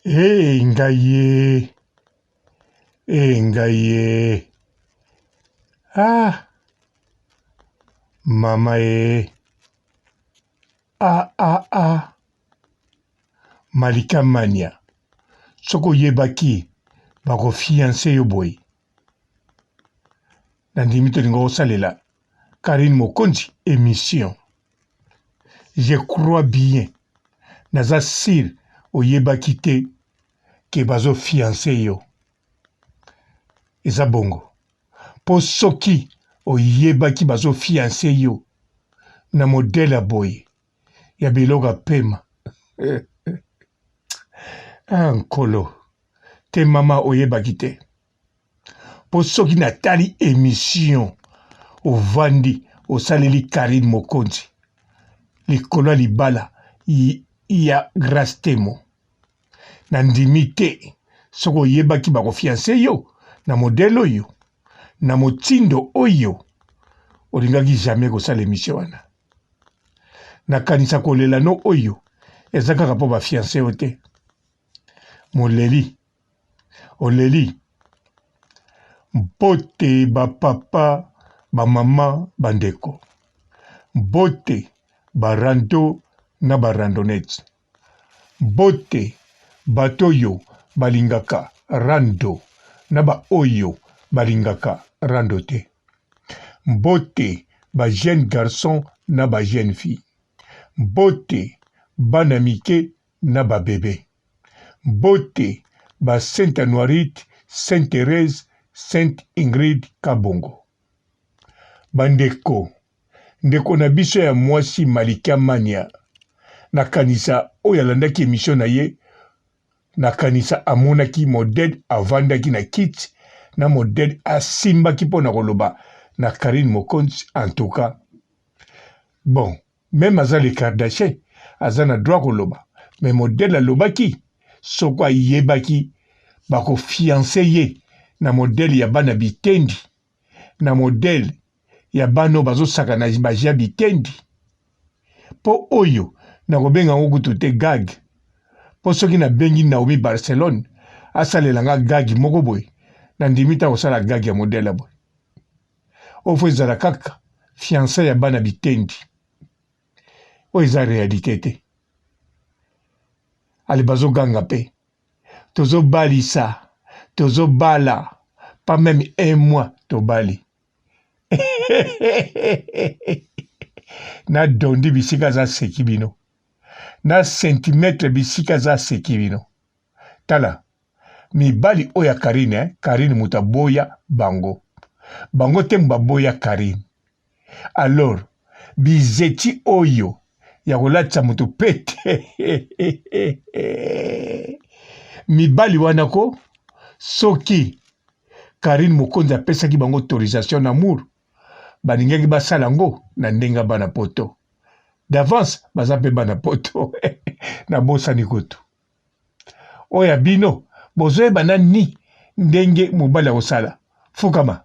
Ee ngai ye, ee ngai ye, ah mama ye, ah ah ah Malika Mania, soki oyebaki bakofianse yo boye. nandimi tolinga kosalela karine mokonzi émission je crois bien naza sire oyebaki te ke bazofianse yo eza bongo mpo soki oyebaki bazofianse yo na modele ya boye ya biloko ya pema ah, nkolo te mama oyebaki te mpo soki natali emission ovandi osaleli karine mokonzi likolo ya libala ya grace temo nandimi te soki oyebaki bakofianse yo na modele oyo na motindo oyo olingaki jamais kosala emission wana nakanisa kolela no oyo eza kaka mpo bafianse yo te moleli oleli mbote bapapa bamama bandeko mbote barando na barandonete Mbote bato oyo balingaka rando na ba oyo balingaka rando te. Mbote ba jeunes garçons na ba jeunes filles. Mbote bana mike na ba bebe. Mbote ba Sainte Anuarite, Sainte Therèse, Sainte Ingrid Kabongo. Bandeko Ndeko na biso ya mwasi Malikia Mania, nakanisa oyo alandaki emission na ye, nakanisa amonaki Moded avandaki na kiti na Moded asimbaki mpo na koloba na Carine Mokonzi en tout cas bon meme aza le Kardashian aza na droit koloba mais Moded alobaki soko ayebaki bakofianse ye na modele ya bana bitendi na modele ya bana oyo bazosaka na baji ya bitendi mpo oyo nakobenga yango kutu te gag mpo soki nabengi naomi barcelone asalela nga gagi moko boye nandimi te akosala gagi ya modele ya boye oyo fo ezala kaka fiansa ya bana bitendi oyo eza realite te ale bazoganga mpe tozobalisa tozobala pas meme un mois tobali na dondi bisika za seki bino na centimetre bisika za seki bino tala mibali oyo ya karine eh? karine moto aboya bango bango te baboya karine alors bizeti oyo ya kolatisa moto pete mibali wana ko soki Karine Mokonzi apesaki bango autorisation d'amour balingaki basala yango na ndenge ya bana poto d'avance baza mpe bana poto nabosani kutu oyo ya bino bozoyeba nani ndenge mobali akosala fukama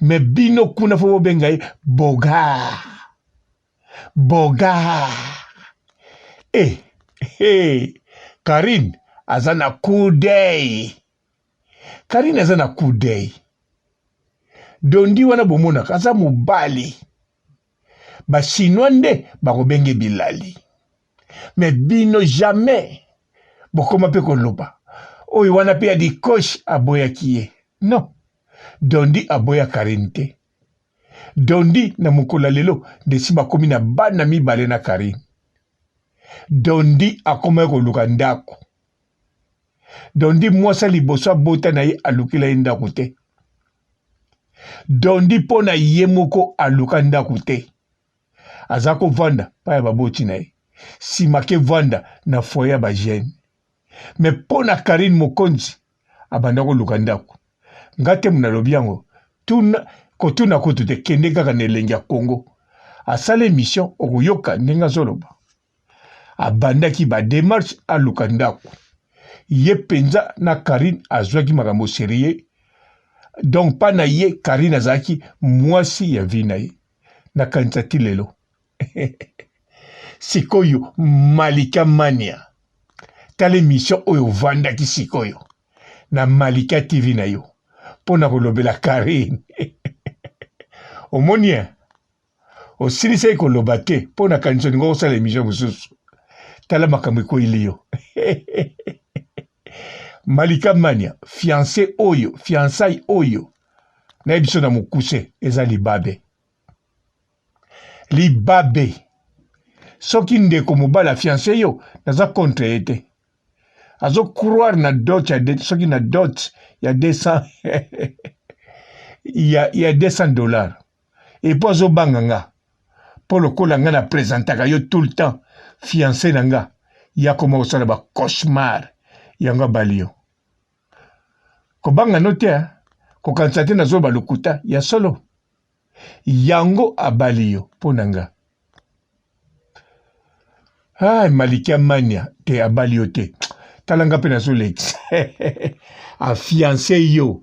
me bino kuna fo bobenga ye bogar bogar e eh, hey, eh, karine aza na kudei karine aza na kudei dondi wana bomonaka aza mobali ba chinois nde bakobenge bilali me bino jamais bokoma mpe koloba oyo wana mpe ya dikosh aboyaki ye non dondi aboya karine te dondi na mokolo ya lelo nde si bakomi na bana mibale na karine dondi akomaki koluka ndako dondi mwasi ya liboso abota na ye alukela ye ndako te dondi mpo na ye moko aluka ndako te aza kovanda mpa ya baboti na ye nsima kevanda na foye ya bagene me mpo na karine mokonzi abanda koluka ndako nga te mona alobi yango tuna kotuna kutu te kende kaka na elengi ya kongo asala emission okoyoka ndenge azoloba abandaki ba demarche aluka ndako ye mpenza na Carine azwaki makambo serie donc pa na ye Carine azalaki mwasi ya vie na ye nakanisa ti lelo sikoyo Malika Mania tala emission oyo ovandaki sikoyo na Malika TV na yo mpo na kolobela Carine omoni osilisaki koloba te mpo na kanisa olinga kosala emission mosusu tala makambo ekweli yo malika mania fiance oyo fiansai oyo nayebi biso na mokuse eza libabe libabe soki ndeko mobali afiance yo naza contre ye te azo croire na dot ya de, soki na dot ya 200 ya, ya 200 dollars epo azobanga nga po lokola nga na presentaka yo tout le temps fiance na nga yakoma kosala ba cauchemar yango abali yo kobanga no te kokanisa te nazoloba lokuta ya solo yango abali yo mpo na nga ah, malikia mania te abali yo te tala nga mpe nazolekisa afiance yo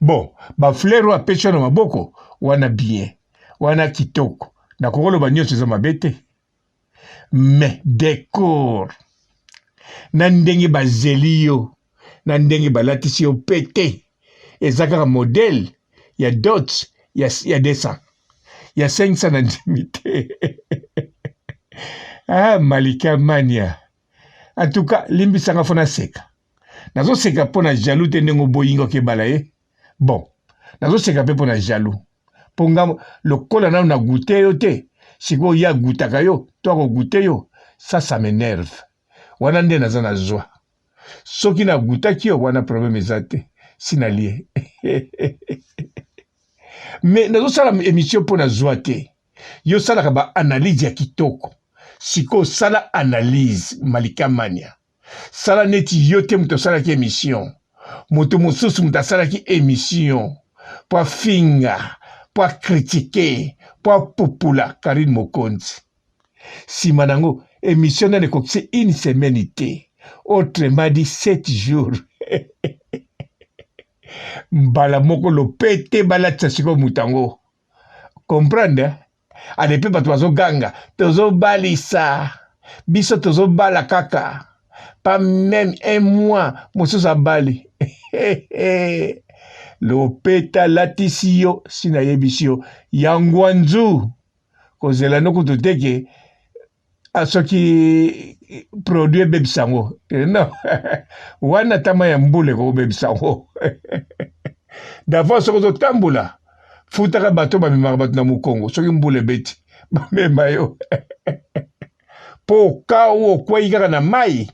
bon ba fleur oyo apesi yo na maboko wana bien wana kitoko nakoki oloba nyonso eza mabe te mais decor na ndenge bazeli yo na ndenge balatisi yo mpe te eza kaka modele ya dot ya, ya 200 ya 500 na ndimi te ah, malika mania en tout cas limbisanga fo naseka nazoseka mpo na jaloux te ndenge oboyi nga okebala ye bon nazoseka mpe mpo na jaloux mpo nga lokola nano na goute yo te sikoyo ye agutaka yo to akogute yo ça ça m'énerve wana nde naza na zwa soki nagutaki yo wana problème eza te si nalie mais nazosala émission mpo na zwa te yo osalaka baanalyse ya kitoko sikoyo sala analyse malikamania sala neti yo te moto asalaki emission moto mosusu moto asalaki emission mpo afinga mpo akritike mpo apupula karine mokonzi nsima na yango emission nani ekokisi une semaine te autrement dit sept jours mbala moko lopete balatisa sikoyo moto yango comprendre ale mpe bato bazoganga tozobalisa biso tozobala kaka pa meme un mois mosusu abali lopeta latisi yo si nayebisi yo ya ngwanzu kozela no kutu teke Ah, soki produit ebebisa yango eh, non wana tama ya mbula ekobebisa yango davance soki ozotambola futaka bato bamemaka bato na mokongo soki mbula ebeti bamema yo mpo okau okwei kaka na mai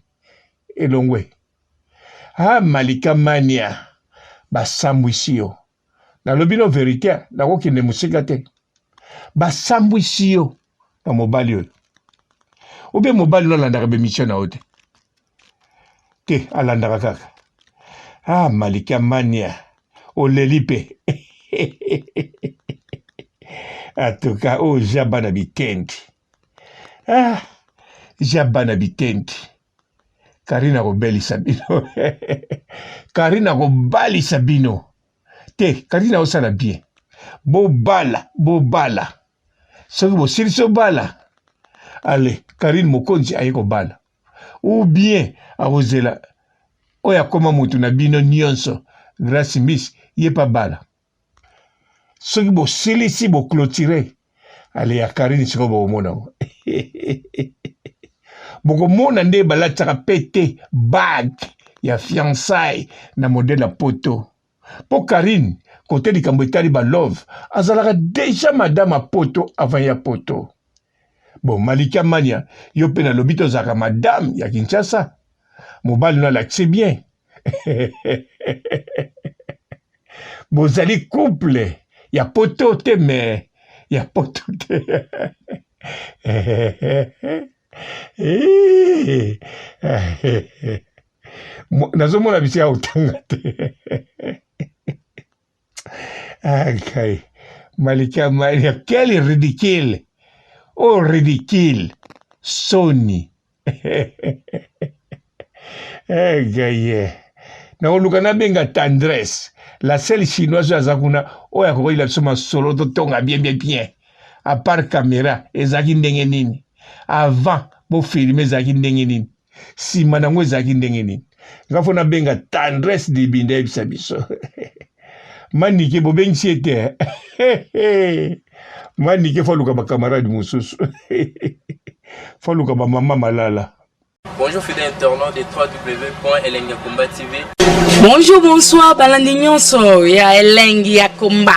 elongwe ha ah, malika mania basambwisi yo nalobi no verite nakokende mosika te basambwisi yo na mobali oyo obe mobali no alandaka bemisio na yo te te alandaka kaka ah malikia mania oleli mpe atuka oyo oh, ja bana bitendi ah ja bana bitendi Karina akobelisa bino Karina akobalisa bino te Karina osala bien bobala bobala soki bosilisi obala ale Karine mokonzi aye kobala ou bien akozela oyo akoma motu na bino nyonso Grace Miss ye pa bala soki bosilisi boclotire ale ya karine sikoyo bokomona yango bokomona nde balatisaka pete bag ya fiançai na modele ya poto mpo karine kote likambo etali balove azalaka deja madame ya poto avant ya poto bon malika mania yo mpe nalobi tozalaka madame ya kinshasa mobali no alakisi bien bozali couple ya poto te me ya poto te nazomona bisika kotanga te Okay. Malikia Maria, quel ridicule! Oh, ridicule! Soni! eh, gaye. nakoluka nabenga tendresse la seule chinoise oyo aza kuna oyo akokoyela biso masolo totonga bien bien bien apart camera ezalaki ndenge nini avant bofilme ezalaki ndenge nini nsima na yango ezalaki ndenge nini nga fo nabenga tendresse dibinda yebisa biso manike bobengisi ye te manike fo aluka bakamarade mosusu fo aluka bamama malala Bonjour fidèle internaute de www.elengiakomba.tv Bonjour, bonsoir, balandi nyonso ya elengi ya komba.